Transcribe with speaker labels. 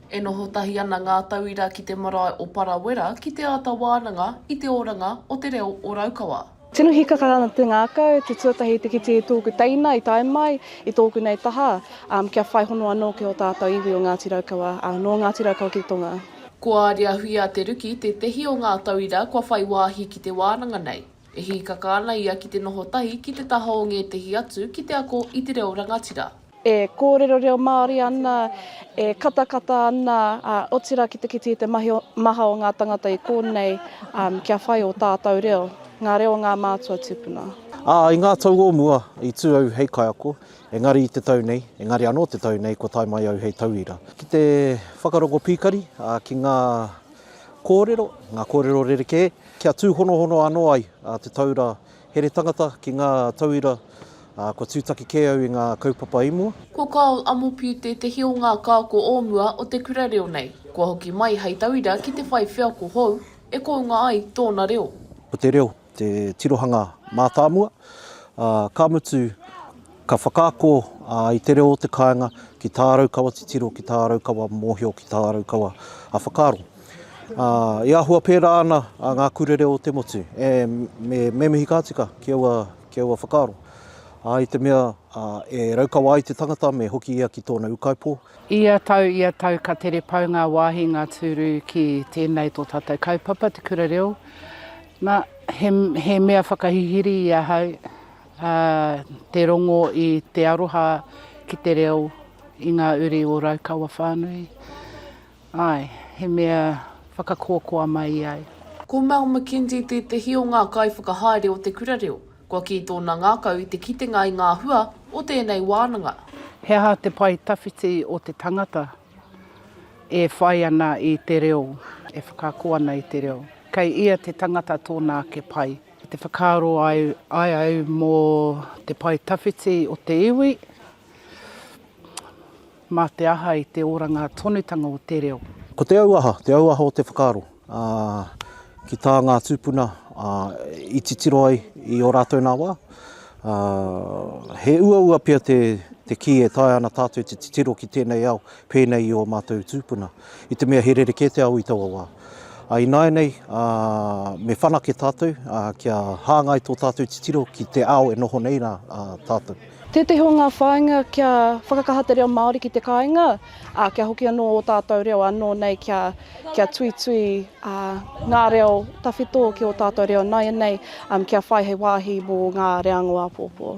Speaker 1: E noho tahi ana ngā tauira ki te marae o Parawera ki te āta wānanga i te oranga o te reo o Raukawa. Tino hīkaka ana
Speaker 2: te ngākau, te tuatahi te kite i tōku teina i tae mai i tōku nei taha, kia whai hono anō ki ō tātau iwi o Ngāti Raukawa, nō Ngāti Raukawa ki Tonga. Ko Aria Huia
Speaker 1: Te Ruki tētehi o ngā tauira kua whai wāhi ki te wānanga nei. E hīkaka ana ia ki te noho tahi ki te taha o ngētehi atu ki te ako i te reo rangatira. e kōrero
Speaker 2: reo Māori ana, e katakata ana, ā, otirā ki te kite i te mahi o, maha o ngā tangata i kōnei, ā, kia whai ō tātau reo, ngā reo o ngā mātua tūpuna. Ā, i ngā tau
Speaker 3: o mua, i tū au hei kaiako, engari i te tau nei, engari anō te tau nei kua tae mai au hei tauira. Ki te whakarongo pīkari, ā, ki ngā kōrero, ngā kōrero rerekē, kia tūhonohono anō ai te taura Here tangata ki ngā tauira, ā, kua tūtaki kē au i ngā kaupapa i mua. Ko Carl Amopiu
Speaker 1: tētehi o ngā kāko o mua o te kura reo nei, kua hoki mai hei tauira ki te whai wheako hou e kounga ai tōna reo. Ko te reo te
Speaker 3: tirohanga mātāmua, ā, ka mutu, Ka whakaako i te reo o te kāinga ki tā Raukawa titiro, ki tā Raukawa mōhio, ki tā Raukawa whakaaro. E āhua pērā ana ngā kura reo o te motu, me mihi ka tika ki aua whakaaro. I te mea e Raukawa ai te tangata me hoki ia ki tōna ūkaipō. Ia tau, ia
Speaker 4: tau ka tere pau ngā wāhi, ngā tūru ki tēnei tō tātou kaupapa, te kura reo. Na, he mea whakahihiri i ahau. Ā, tē rongo i te aroha ki te reo i ngā uri o Raukawa whānui. Āe, he mea whakakoakoa mai i a. Ko Mel McKenzie
Speaker 1: tētehi o ngā kaiwhakahaere o te Kura Reo. Kua kī tōna ngākau i te kitenga i ngā hua o tēnei wānanga. He aha te
Speaker 4: pae tawhiti o te tangata e whai ana i te reo, e whakaako ana i te reo? Kei ia te tangata tōna ake pae. Ki te whakaaro ai, ai au mō te pae tawhiti o te iwi, mā te aha i te oranga tonutanga o te reo. Ko te auaha, te
Speaker 3: auaha o te whakaaro, ā, ki tā ngā tūpuna, ā, i titiro ai i ō rātou nā wā, ā, he uaua pea te, te kī e taea ana tātou te titiro ki tēnei ao pēnei i ō mātou tūpuna. i te mea he rerekē te ao i taua wā. Ā, ināianei, ā, me whanake tātou, ā, kia hāngai tō tātou titiro ki te ao e noho nei rā tātou. Tētehi o ngā
Speaker 2: whāinga kia whakakaha te reo Māori ki te kāinga, ā, kia hoki anō ō tātou reo anō nei kia, kia tuitui, ā, ngā reo tawhito ki ō tātou reo nāianei, kia whai hei wāhi mō ngā reanga o āpōpō.